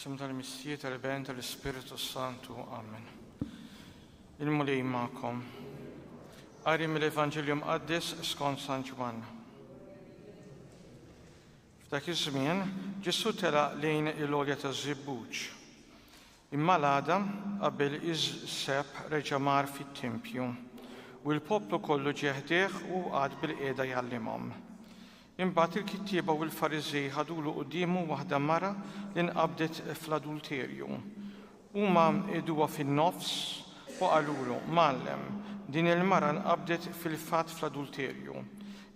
Sim tal-Missija tal-Ben tal-Ispirtu Santu. Amen. Il-Mulej ma'kom. Għari mill-Evanġelju Mqaddis skont San Ġwanna. F'dak iż-żmien, Ġesù telaq lejn il-Għolja taż-Żibbuġ. Imma l-għada, qabel iż-żebħ reġa' mar fit-tempju, u l-poplu kollu ġie ħdejh u qagħad bilqiegħda jgħallimhom. Imbagħad il-kittieba u l-Fariżej ħadulu quddiemu waħda mara li nqabdet fl-adulterju, Huma qiegħduha fin-nofs u qalulu, Mgħallem, din il-mara nqabdet fil-fatt fl-adulterju.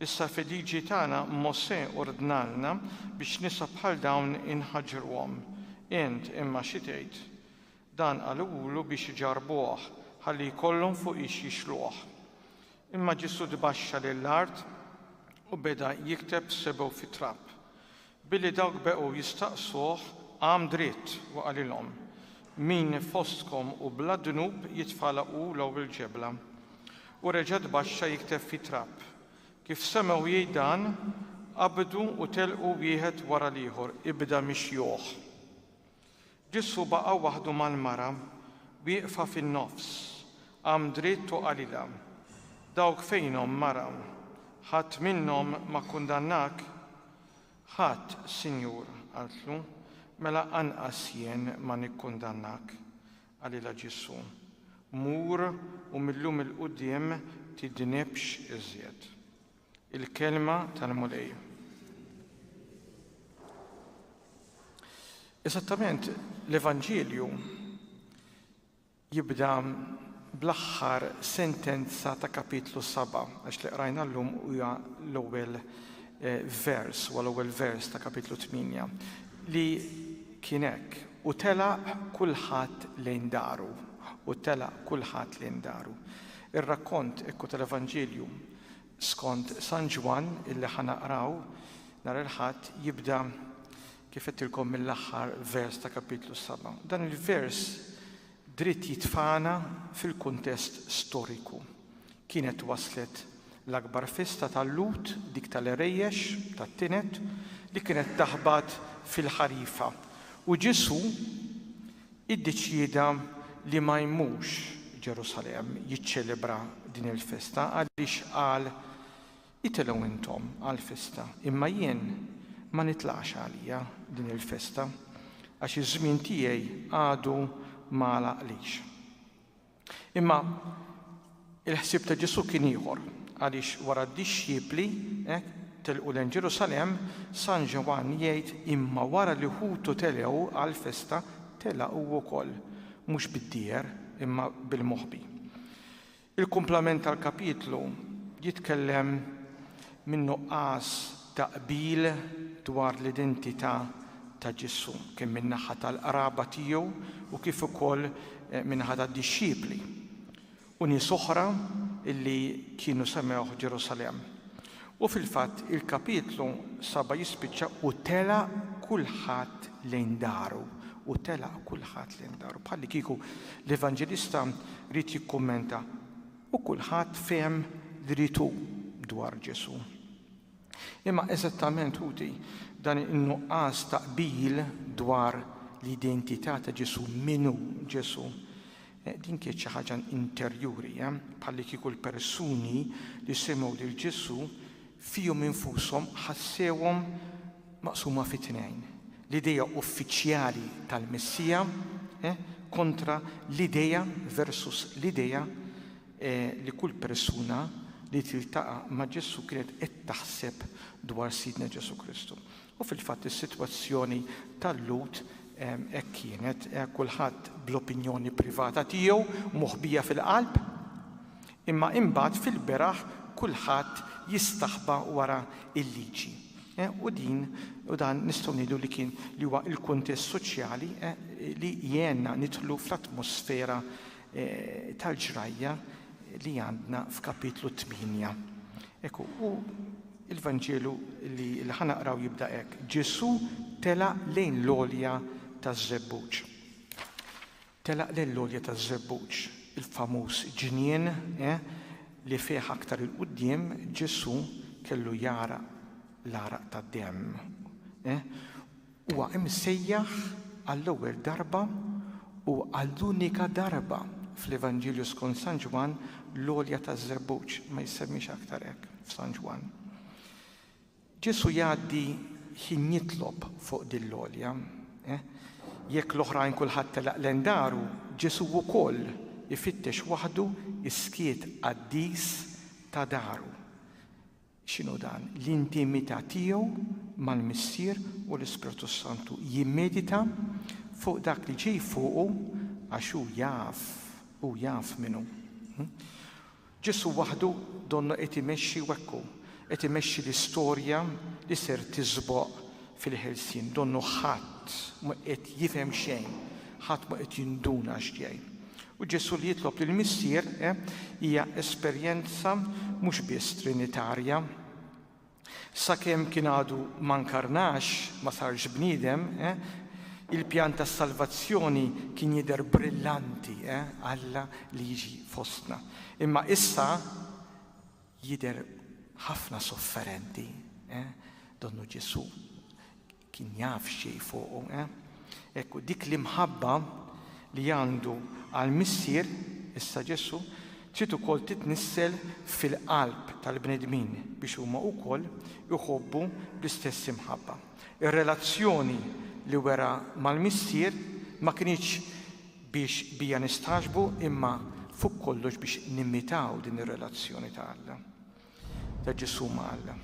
Issa fil-Liġi tagħna Mosè ordnalna biex nisa bħal dawn inħaġġruhom. Int, imma, xi tgħid? Dan qalulu biex iġarrbuh, ħalli jkollhom fuqiex jixluh. Imma Ġesù tbaxxa lil art u beda jikteb sebgħu fit-trab. Billi dawk beqgħu jistaqsuh, qam dritt u qalilhom, Min fostkom hu bla dnub jitfagħla hu l-ewwel ġebla. U reġa' tbaxxa jikteb fit-trab. Kif semgħu jgħid dan, qabdu u telqu wieħed wara l-ieħor, ibda mixjuh. Ġesù baqa' waħdu mal-mara wieqfa fin-nofs, qam dritt u qalilha, Dawk fejnhom, mara? Ħadd minnhom ma kkundannak? Ħadd, Sinjur, qaltlu. Mela anqas jien ma nikkundannak, qalilha Ġesù. Mur u mil-lum 'il quddiem tidnibx iżjed. Il-kelma tal-Mulej. Esattament l-Evanġelju jibda bl-aħħar sentenza ta' kapitlu 7, għax li qrajna llum huwa l-ewwel eh, vers, u l-ewwel vers ta' kapitlu 8, li kien hekk u telaq kulħadd lejn daru, u telaq kulħadd lejn daru. Ir-rakkont ekku tal-Evanġelju Skont San Ġwann illi ħa naqraw nhar il-Ħadd jibda kif għedtilkom mill-aħħar vers ta' Kapitlu s-Saba'. Dan il-vers dritt jitfagħna fil-kuntest storiku. Kienet waslet l-akbar festa tal-Lhud, dik tal-Għerejjex, tat-Tined, li kienet taħbat fil-ħarifa. U Ġesù iddeċieda li ma jmurx Ġerusalemm jiċċelebra din il-festa għaliex qal, Itilgħu intom għall-festa, imma jien ma nitlaqx għalija din il-festa, għax iż-żmien tiegħi għadu ma għalaqlix. Imma il-ħsieb ta' Ġesù kien ieħor, għaliex wara d-dixxipli telqu lejn Ġerusalemm, San Ġwann jgħid, Imma wara li ħutu telgħu għall-festa, tela' hu wkoll, mhux bid-dieher, imma bil-moħbi. Il-kumplament tal-kapitlu jitkellem min-nuqqas ta' qbil dwar l-identità ta' Ġesù, kemm min-naħa tal-qraba tiegħu u kif ukoll min-naħa tad-dixxipli u nies oħra li kienu semgħuh f'Ġerusalemm. U fil-fatt il-kapitlu saba' jispiċċa u telaq kulħadd lejn daru, u telaq kulħadd lejn daru, bħallikieku l-Evanġelista ried jikkummenta, U kulħadd fehem li ried hu dwar Ġesù. Imma eżattament, ħuti, dan in-nuqqas ta' qbil dwar l-identità ta' Ġesù, min hu Ġesù, eh, din kienet xi ħaġa interjuri, eh, bħalli kieku l-persuni li semgħu lil Ġesù fihom infushom ħassewhom maqsuma fi tnejn, l-idea uffiċjali tal-Messija kontra l-idea versus l-idea li kull persuna li tiltaqa' ma' Ġesù kienet qed taħseb dwar Sidna Ġesù Kristu. U fil-fatt is-sitwazzjoni tal-Lhud hekk kienet, kulħadd bl-opinjoni privata tiegħu moħbija fil-qalb, Imma imbagħad fil-beraħ kulħadd jistaħba wara l-liġi. U din, u dan nistgħu ngħidu li kien, li huwa l-kuntest soċjali li jgħenna nidħlu fl-atmosfera tal-ġrajja li għandna f'Kapitlu tmienja. Hekk hu, u l-Vanġelu li ħa naqraw jibda hekk, Ġesù telaq lejn l-għolja taż-żebbuġ. Telaq lejn l-għolja taż-żebbuġ, il-famuż ġnien, eh, li fih aktar 'il quddiem Ġesù kellu jgħaraq l-għaraq tad-demm, eh, huwa imsejjaħ għall-ewwel darba u għall-unika darba fl-Evanġelju skont San Ġwann l-għolja taż-żebbuġ ma jissemmiex aktar hekk f'San Ġwann. Ġesù jgħaddi ħin jitlob fuq din l-għolja. Jekk l-oħrajn kulħadd telaq lejn daru, Ġesù wkoll ifittex waħdu s-skiet qaddis ta' daru. X'inhu dan? L-intimità tiegħu mal-Missier u l-Ispirtu s-Santu. Jimmedita fuq dak li ġej fuqu għax hu jaf, hu jaf min hu. Ġesù waħdu donnha qed imexxi u hekk hu, qed imexxi l-istorja li ser tiżboq fil-ħelsien. Donnu ħadd mhu qed jifhem xejn, ħadd mhu qed jinduna x'jgħid. U Ġesù li jitlob lill-Missier, eh, hija esperjenza mhux biss trinitarja, Sakemm kien għadu ma nkarnax, ma sarx bniedem, il-pjan tas-salvazzjoni kien jidher brillanti, Alla li jiġi fostna. Imma issa jidher ħafna sofferenti, donnu Ġesù. Kien jaf xi jfuqu, eh? Hekk hu, dik l-imħabba li għandu għall-Missier, issa Ġesù, trid ukoll titnissel fil-qalb tal-bnedmin biex huma wkoll iħobbu bl-istess imħabba. Ir-relazzjoni li wera mal-Missier ma kinitx biex bija nistagħġbu imma fuq kollox biex nimitaw din ir-relazzjoni ta' Alla. Ta' Ġesù ma' Alla.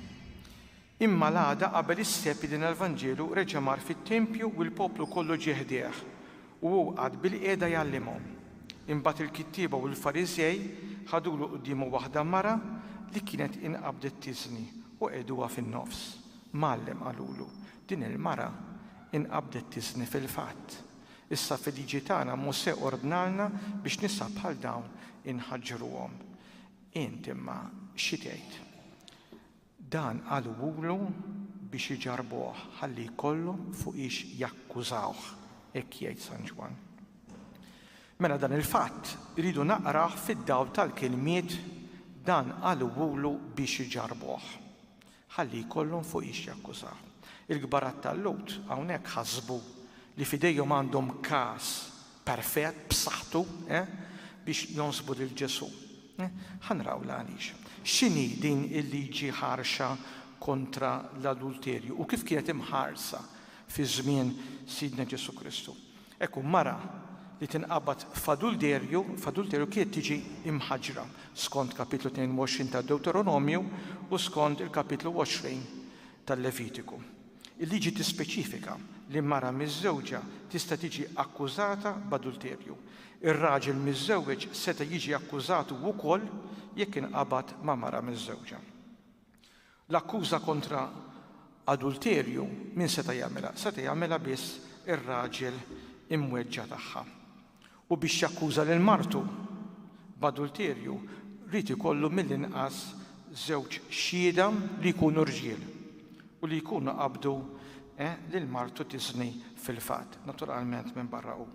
Imma l-għada qabel is-Sebt bdejna l-Vanġelu reġa' mar fit-tempju u l-poplu kollu ġie ħdejh, u hu qagħad bilqiegħda jgħallimhom. Imbagħad il-kittieba u l-Fariżej ħadulu quddiemu waħda mara li kienet inqabdet tiżni u qegħduha fin-nofs. Mgħallem, qalulu, din il-mara inqabdet tiżni fil-fatt. Issa fil-Liġi tagħna Mosè ordnalna biex nisa bħal dawn inħaġġruhom. Int imma xi tgħid? Dan qalulu biex iġarrbuh ħalli jkollhom fuqiex jakkużawh, hekk jgħid San Ġwann. Mela dan il-fatt irridu naqrah fid-dawl tal-kilmiet dan qalulu biex iġarrbuh ħalli jkollhom fuqiex jakkużawh. Il-kbar għat-tallut hawnhekk ħasbu li f'idejhom għandhom każ perfett, b'saħħtu, biex jonsbu lil Ġesù. Ħa nraw l-għaliex. X'inhi din il-liġi ħarxa kontra l-adulterju u kif kienet imħarsa fi żmien Sidna Ġesù Kristu? Ekku, mara li tinqabad f'adulterju, f'adulterju kienet tiġi imħaġġra skont kapitlu 22 tad-Dewteronomju u skont il-kapitlu 20 tal-Levitiku. Il-liġi tispeċifika li mara miżżewġa tista' tiġi akkużata b'adulterju. Ir-raġel miżżewweġ seta' jiġi akkużat hu wkoll jekk inqabad ma' mara miżżewġa. L-akkuża kontra adulterju min seta' jagħmilha? Seta' jagħmilha biss ir-raġel imweġġa' tagħha. u biex jakkuża lil martu b'adulterju jrid ikollu mill-inqas żewġ xhieda li jkunu rġiel u li jkunu qabdu lil martu tiżni fil-fatt, naturalment minbarra hu.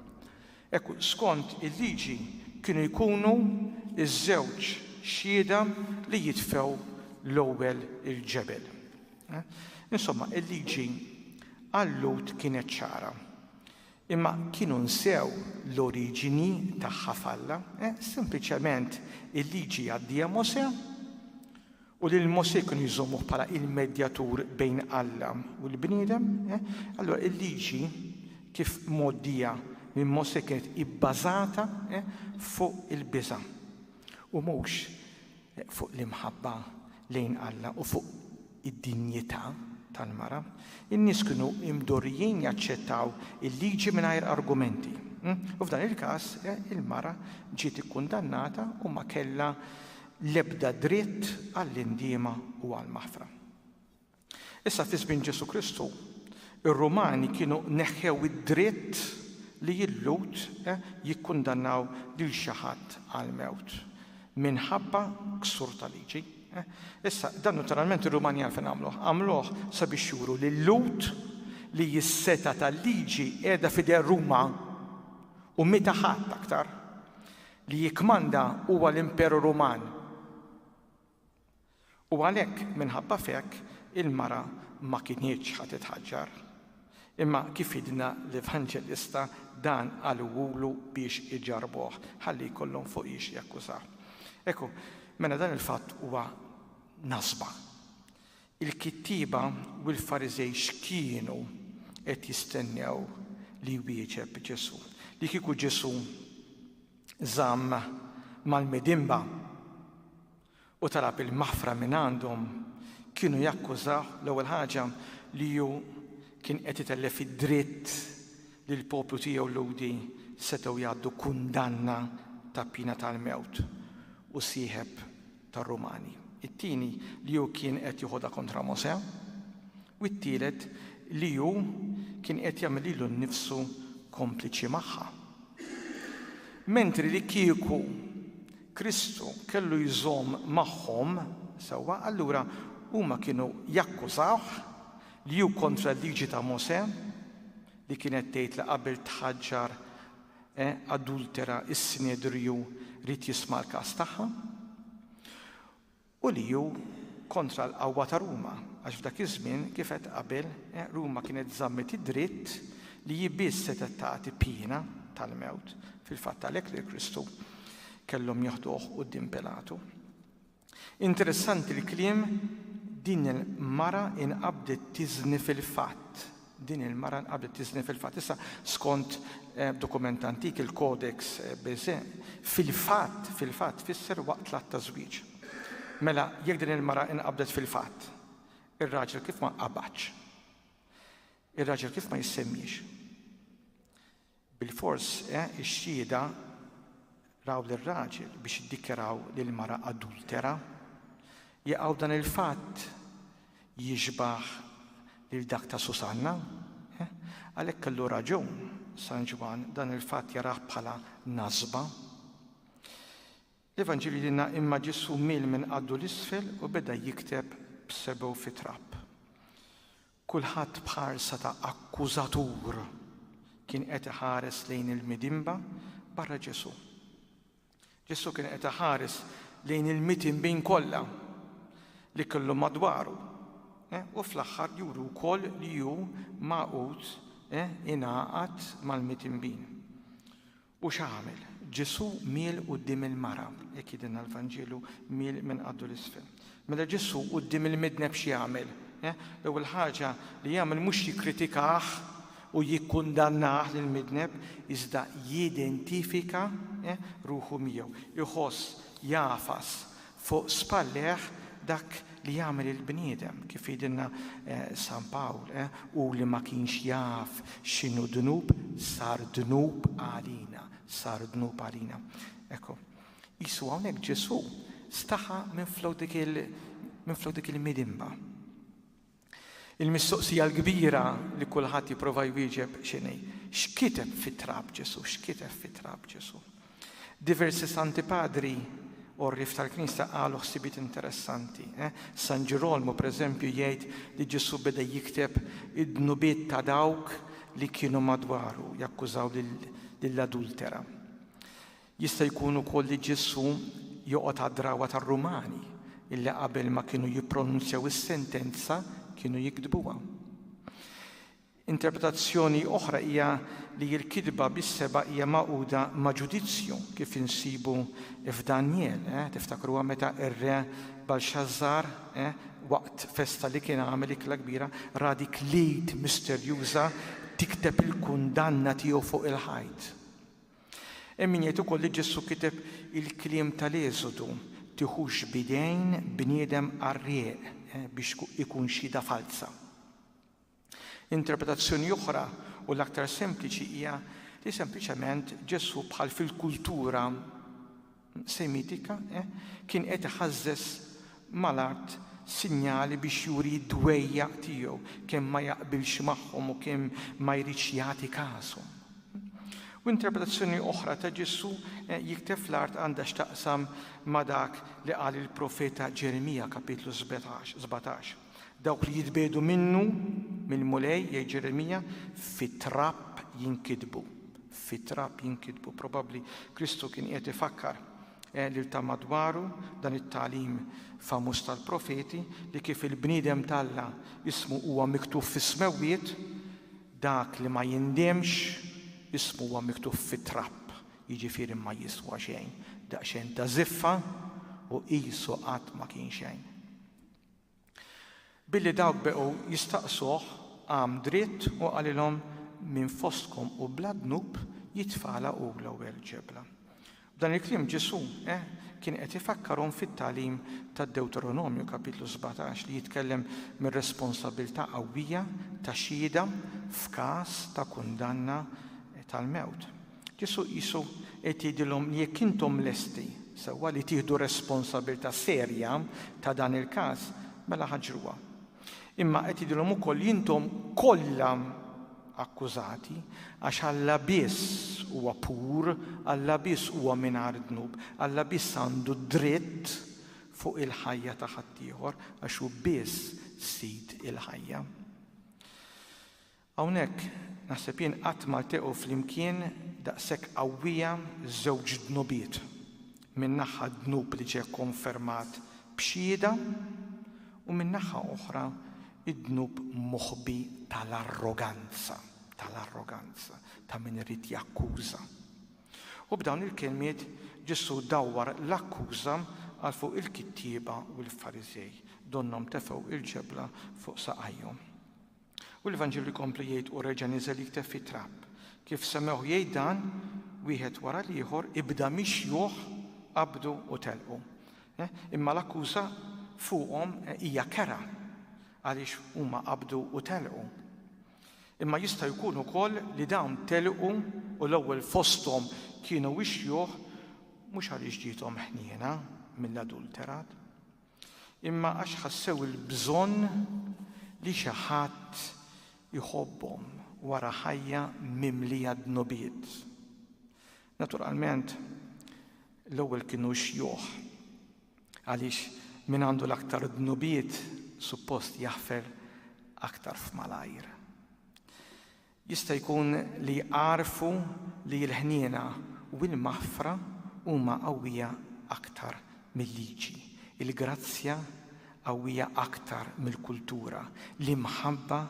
Hekk hu, skont il-liġi kienu jkunu ż-żewġ xhieda li jitfgħu l-ewwel il-ġebel. Insomma, il-liġi għal-Lhud kienet ċara. Imma kienu nsew l-oriġini tagħha f'Alla, sempliċement il-Liġi jgħaddiha Mosè, u lil Mosè kienu jżommuh bħala il-medjatur bejn Alla u l-bniedem. Allura il-Liġi kif mgħoddija minn Mosè kienet ibbażata fuq il-biża' u mhux fuq l-imħabba lejn Alla u fuq id-dinjità tal-mara, in-nies kienu mdorrijin jaċċettaw il-liġi mingħajr argumenti. U f'dan il-każ, il-mara ġiet ikkundannata u ma kellha l-ebda dritt għall-indiema u għall-maħfra. Issa fi żmien Ġesù Kristu, ir-Rumani kienu neħħew id-dritt li l-Lhud jikkundannaw lil xi ħadd għall-mewt minħabba ksur ta' liġi. Issa, dan notoralment ir-Rumanjan fejn għamluh? Għamluh sabiex juru lil-Lhud li s-setgħa tal-liġi qiegħda f'idejn Ruma u meta ħadd aktar li jikkmanda huwa l-Imperu Ruman. U għalhekk, minħabba f'hekk, il-mara ma kinitx ħa titħaġġar. Imma kif għidna l-Evanġelista, dan qalugħulu biex iġarrbuh, ħalli jkollhom fuq ix jakkużah. Ekku, mela dan il-fatt huwa nasba. Il-kittieba u l-Fariżej x'kienu qed jistennew li jwieġeb Ġesù? Li kieku Ġesù żamm mal-midinba, u talab il-maħfra mingħandhom, kienu jakkużawh, l-ewwel ħaġa, li hu kien qed itellef id-dritt li l-poplu tiegħu Lhudi setgħu jgħaddu kundanna ta' piena tal-mewt u sieħeb tar-Rumani, it-tieni, li hu kien qed joħodha kontra Mosè, u t-tielet, li hu kien qed jagħmel lilu nnifsu kompliċi magħha. Mentri li kieku Kristu kellu jżomm magħhom, sewwa, allura huma kienu jakkużawh li hu kontra l-Liġi ta' Mosè, li kienet tgħid li qabel tħaġġar adultera s-Sinedriju ried jisma' l-każ tagħha. u li hu kontra l-qawwa ta' Ruma, għax f'dak iż-żmien, kif għedt qabel, Ruma kienet żammet id-dritt li hi biss setgħet tagħti piena tal-mewt, fil-fatt għalhekk lil Kristu kellhom jeħduh quddiem Pilatu. Interessanti l-kliem din il-mara inqabdet tiżni fil-fatt, Din il-mara nqabdet tiżni fil-fatt. Issa, skont dokument antik, il-Codex Beze, fil-fatt, fil-fatt tfisser waqt l-att ta' żwieġ. Mela, jekk din il-mara inqabdet fil-fatt, ir-raġel kif ma nqabadx? Ir-raġel kif ma jissemmiex? Bilfors, eh, ix-xhieda raw lir-raġel biex iddikjaraw lill-mara adultera? Jaqaw dan il-fatt jixbah lil dak ta' Susanna? Eh, għalhekk kellu raġun San Ġwann dan il-fatt jarah bħala nasba. L-Evanġelju jilna imma Ġesu mil minn qaddu l-isfel u beda jikteb b'sebgħu fi trab. Kulħadd b'ħarsa ta' akkużatur kien qed iħares lejn il-midinba barra Ġesù. Ġesù kien qed iħares lejn il-mitinbin kollha li kellhom madwaru Eh, u fl-aħħar juru wkoll li ju maqut eh, ingħaqad mal-mitinbin. U x'għamel? Ġesù miel quddiem il-mara, hekk jgħidilna l-Vanġelu, miel minn qaddu 'l isfel. Mela Ġesù quddiem il-midneb x'jagħmel? L-ewwel ħaġa li jagħmel mhux jikkritikah u jikkundannah lill-midneb, iżda jidentifika ruħu miegħu. Iħoss, jagħfas, Fuq spallejh dak li jagħmel il-bniedem, kif jgħidilna San Pawl, hu li ma kienx jaf x'inhu dnub sar dnub għalina, sar dnub għalina. Ekku, qisu hawnhekk Ġesù staħa minflok dik il-midinba. Il-mistoqsija l-kbira li kulħadd jipprova jwieġeb x'inhi, x'kiteb fit-trab Ġesù? X'kiteb fit-trab Ġesù? Diversi Santi Padri għorrief tal-Knisja qalu ħsibiet interessanti. Eh? San Ġirolmu, pereżempju, jgħid li Ġesù beda jikteb id-dnubiet ta' dawk li kienu madwaru jakkużaw lill-adultera. Jista' jkun ukoll li Ġesù joqgħod għad-drawwa tar-Rumani illi qabel ma kienu jippronunzjaw is-sentenza kienu jiktbuha. Interpretazzjoni oħra hija li l-kitba bis-seba' hija magħquda ma' ġudizzju kif insibu f'Danjel, eh, tiftakruha meta r-re Balxażżar, eh, waqt festa li kien għamel ikla kbira, ra dik l-id misterjuża tikteb il-kundanna tiegħu fuq il-ħajt. Hemm min jgħid ukoll li Ġesù kiteb il-kliem tal-Esodu, Tiħux b'idejn bniedem qarrieq biex ikun xhieda falza. Interpretazzjoni oħra u l-aktar sempliċi hija li sempliċement Ġesù bħal fil-kultura Semitika, eh, kien qed iħażżeż mal-art sinjali biex juri d-dwejjaq tiegħu, kemm ma jaqbilx magħhom u kemm ma jridx jagħti każhom. U interpretazzjoni oħra ta' Ġesù jikteb fl-art għandha x'taqsam ma' dak li qal il-profeta Ġeremija, kapitlu 17. Dawk li jitbiegħdu minnu, mill-Mulej, jgħid Ġeremija, fit-trab jinkitbu. Fit-trab jinkitbu. Probabbli Kristu kien qiegħed ifakkar eh, lil ta' madwaru dan it-tagħlim famuż tal-profeti li kif il-bniedem talla ismu huwa miktub fis-smewwiet, dak li ma jindemx ismu huwa miktub fit-trab jiġifieri ma jiswa xejn, daqsxejn ta' ziffa u qisu qatt ma kien xejn. Billi dawk beqgħu jistaqsuh, qam dritt u qalilhom, Min fostkom hu bla dnub, jitfagħla hu l-ewwel ġebla. B'dan il-kliem Ġesù kien qed ifakkarhom fit-tagħlim tad-Dewteronomju, Kapitlu 17, li jitkellem mir-responsabbiltà qawwija ta' xhieda f'każ ta' kundanna tal-mewt. Ġesù qisu qed jgħidilhom li jekk intom lesti, sewwa, li tieħdu responsabbiltà serja ta' dan il-każ, mela ħaġruha. Imma qed jgħidilhom ukoll li intom kollha akkużati għax Alla biss huwa pur, Alla biss huwa mingħajr dnub, Alla biss għandu d-dritt fuq il-ħajja ta' ħaddieħor għax hu biss Sid il-ħajja. Hawnhekk, naħseb jien qatt ma ltaqgħu flimkien daqshekk qawwija żewġ dnubiet, minn naħa d-dnub li ġie kkonfermat b'xhieda u minn naħa oħra d-dnub moħbi tal-arroganza, tal-arroganza ta' min irid jakkuża. U b'dawn il-kelmiet Ġesù dawwar l-akkuża għal fuq il-kittieba u l-Fariżej, donnhom tefgħu l-ġebla fuq saqajhom. U l-Evanġelju jkompli jgħid u reġa' niżel jikteb fit-trab. Kif semgħuh jgħid dan, wieħed wara l-ieħor ibda mixjuh, qabdu u telqu. Eh, imma l-akkuża fuqhom eh, hija kera għaliex huma qabdu u telqu. Imma jista' jkun ukoll li dawn telqu u l-ewwel fosthom kienu wixjuh mhux għaliex ġietom ħniena mill-adulterat. imma għax ħassew il-bżonn li xi ħadd iħobbhom wara ħajja mimlija dnubiet. Naturalment, l-ewwel kienu xjuħ, għaliex min għandu l-aktar dnubiet suppost jaħfer aktar f'malajr. Jista' jkun li jgħarrfu li l-ħniena u l-maħfra huma qawwija aktar mil-liġi, il-grazzja qawwija aktar mill-kultura, l-imħabba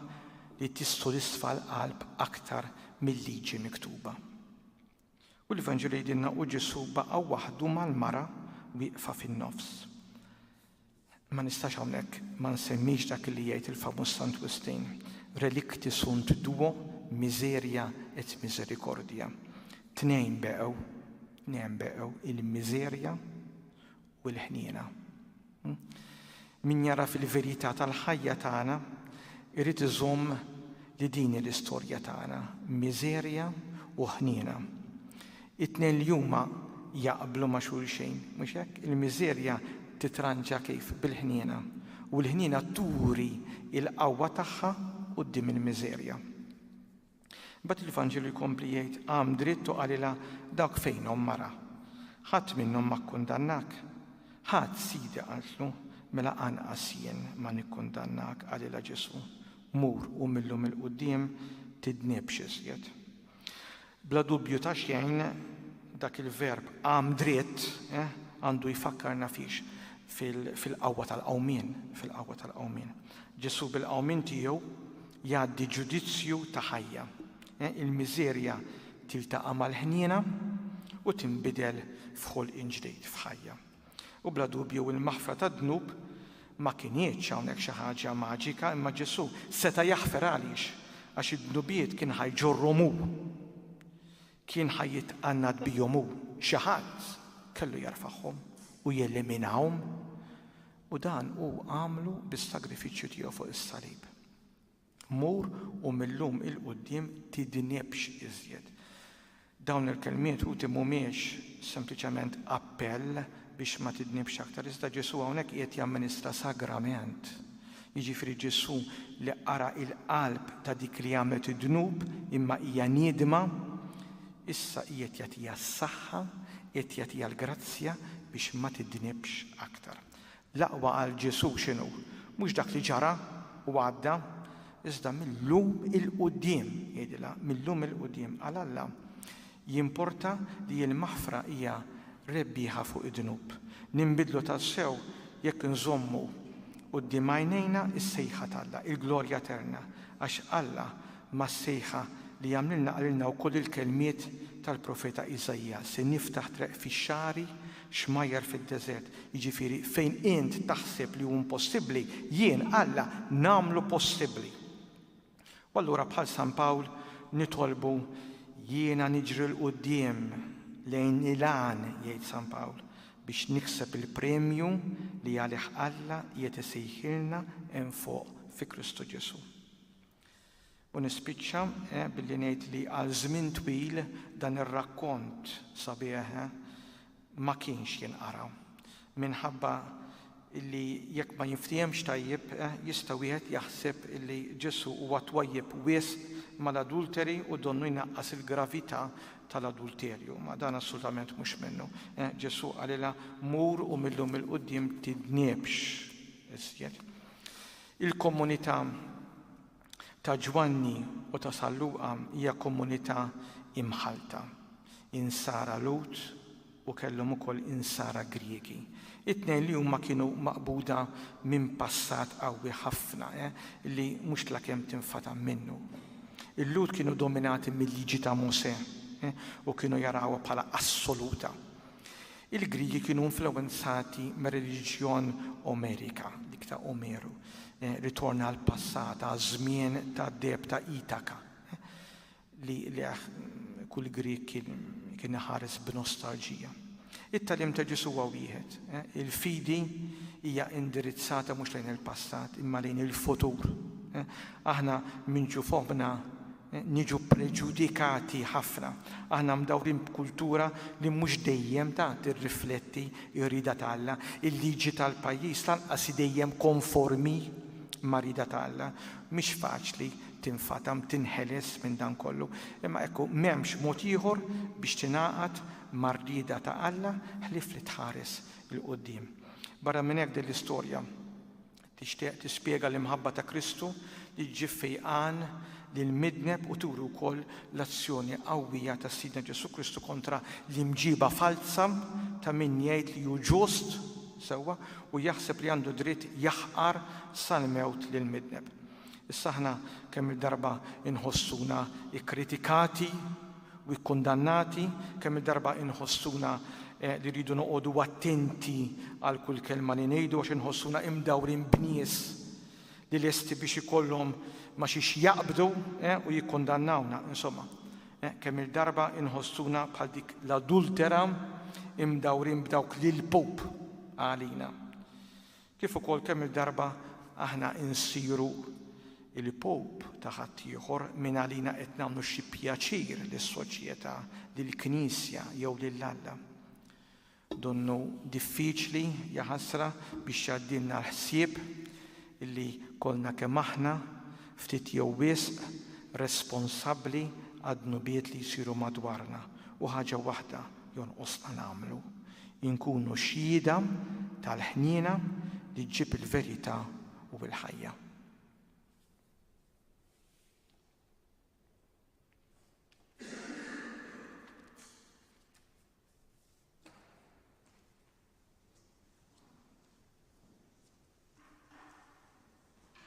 li tissodisfa l-qalb aktar mil-liġi miktuba. U l-Evanġelju jgħidilna u Ġesù baqa' waħdu mal-mara wieqfa fin-nofs. Ma nistax hawnhekk ma nsemmix dak li jgħid il-famuż Sant Wistin, relikti sunt duo, miserja et misericordia. Tnejn beqgħu, tnejn beqgħu il-miserja u l-ħniena. Min jara fil-verità tal-ħajja tagħna jrid iżomm li din hi l-istorja tagħna, miżerja u ħniena. It-tnejn li huma jaqblu ma' xulxejn, mhux hekk? Il-miżerja titranġa kif? Bil-ħniena. U l-ħniena turi l-qawwa tagħha quddiem il-miżerja. Imbagħad il-Vanġelu jkompli jgħid, Qam dritt u qalilha, Dawk fejnhom, mara? Ħadd minnhom ma kkundannak? Ħadd, Sidi, qaltlu. Mela anqas jien ma nikkundannak, qalilha Ġesù. Mur u mil-lum 'il quddiem tidnibx iżjed. Bla dubju ta' xejn, dak il-verb qam dritt għandu jfakkarna fiex? Fil-qawwa tal-qawmien, fil-qawwa tal-qawmien. Ġesù bil-qawmien tiegħu Jgħaddi ġudizzju ta' ħajja. Il-miżerja tiltaqa' mal-ħniena u tinbidel f'ħolqien ġdid, f'ħajja. U bla dubju il-maħfra tad-dnub ma kinitx hawnhekk xi ħaġa maġika imma Ġesù seta' jaħfer għaliex? Għax id-dnubiet kien ħa jġorrhom hu. Kien ħa jitqannad bihom hu, xi ħadd kellu jerfagħhom u jeliminahom, u dan hu għamlu bis-sagrifiċċju tiegħu fuq is-salib. Mur u mil-lum 'il quddiem tidnibx iżjed. Dawn il-kelmiet ħuti mhumiex sempliċement appell biex ma tidnibx aktar. Iżda Ġesù hawnhekk qiegħed jamministra sagrament, jiġifieri Ġesù li qara l-qalb ta' dik li għamlet id-dnub imma hija niedma, issa qiegħed jagħtiha s-saħħa, qiegħed jagħtiha l-grazzja biex ma tidnibx aktar. L-aqwa għal Ġesù x'inhu? Mhux dak li ġara u għadda, iżda mil-lum 'il quddiem, jgħidilha, mil-lum 'il quddiem. Għal Alla, Jimporta li l-maħfra hija rebbieħa fuq id-dnub. Ninbidlu tassew jekk inżommu quddiem għajnejna s-sejħa t'Alla, il-glorja eterna, għax Alla mas-sejħa li jagħmlilna qalilna wkoll il-kelmiet tal-profeta Iżaija, Se niftaħ treq fix-xagħri, xmajjar fid-deżert. Jiġifieri, fejn int taħseb li hu impossibbli, jien, Alla, nagħmlu possibbli. U allura bħal San Pawl nitolbu, Jiena niġri 'l quddiem lejn il-għan, jgħid San Pawl, biex nikseb il-premju li għalih Alla qiegħed isejħilna hemm fuq fi Kristu Ġesù. U nispiċċa billi ngħid li għal żmien twil dan ir-rakkont sabiħ ma kienx jinqara, minħabba li jekk ma jinftiehemx tajjeb jista' wieħed jaħseb li Ġesù huwa twajjeb wisq mal-adulteri u donnu jnaqqas il-gravità tal-adulterju. Ma dan assolutament mhux minnu. Ġesù qalilha, Mur u mil-lum 'il quddiem tidnibx iżjed. Il-komunità ta' Ġwanni u ta' San Luqa hija komunità imħallta, insara Lhud u kellhom ukoll insara Griegi. It-tnejn li huma kienu maqbuda minn passat qawwi ħafna eh, li mhux tlakemm tinfatam minnu. Il-Lhud kienu dominati mil-Liġi ta' Mosè eh, u kienu jarawha bħala assoluta. Il-Griegi kienu influwenzati mir-reliġjon Omerika, dik ta' Omeru, ritorn għall-passat, għaż-żmien tad-deheb ta' Itaka, li lejh kull Grieg kien iħares b'nostalġija. It-tagħlim ta' Ġesù huwa wieħed, il-fidi hija indirizzata mhux lejn il-passat, imma lejn il-futur. Aħna minġu f'oħbna Niġu ppreġudikati ħafna. Aħna mdawrin b'kultura li mhux dejjem ta' tirrifletti r-rieda ta' Alla. Il-liġi tal-pajjiż lanqas hi dejjem konformi mar-rieda ta' Alla. Mhix faċli tinfatam, tinħeles minn dan kollu. Imma ekku, m'hemmx mod ieħor biex tingħaqad mar-rieda ta' Alla ħlief li tħares 'il quddiem. Barra minn hekk din l-istorja Tixtieq tispjega l-imħabba ta' Kristu li ġġib fejqan lill-midneb u turi wkoll l-azzjoni qawwija ta' Sidna Ġesù Kristu kontra l-imġiba falza ta' min jgħid li hu ġust, sewwa, u jaħseb li għandu dritt jaħqar sal-mewt lill-midneb. Issa aħna kemm-il darba nħossuna kkritikati? u kkundannati, kemm-il darba inħossuna li rridu noqogħdu attenti għal kull kelma li ngħidu għax inħossuna imdawrin b'nies li lesti biex ikollhom ma' xiex jaqbdu u jikkundannawna, insomma, kemm-il darba inħossuna bħal dik l-adultera imdawrin b'dawk li l-Pope qalilna. Kif ukoll kemm-il darba aħna nsiru l-pope ta' ħaddieħor, mingħalina qed nagħmlu xi pjaċir lis-soċjetà, lill-Knisja jew lil Alla. Donnu diffiċli, jaħasra, biex jgħaddilna l-ħsieb illi kollna kemm aħna, ftit jew wisq, responsabbli għad-dnubiet li jsiru madwarna u ħaġa waħda jonqosna nagħmlu, inkunu xhieda tal-ħniena li ġġib il-verità u l-ħajja.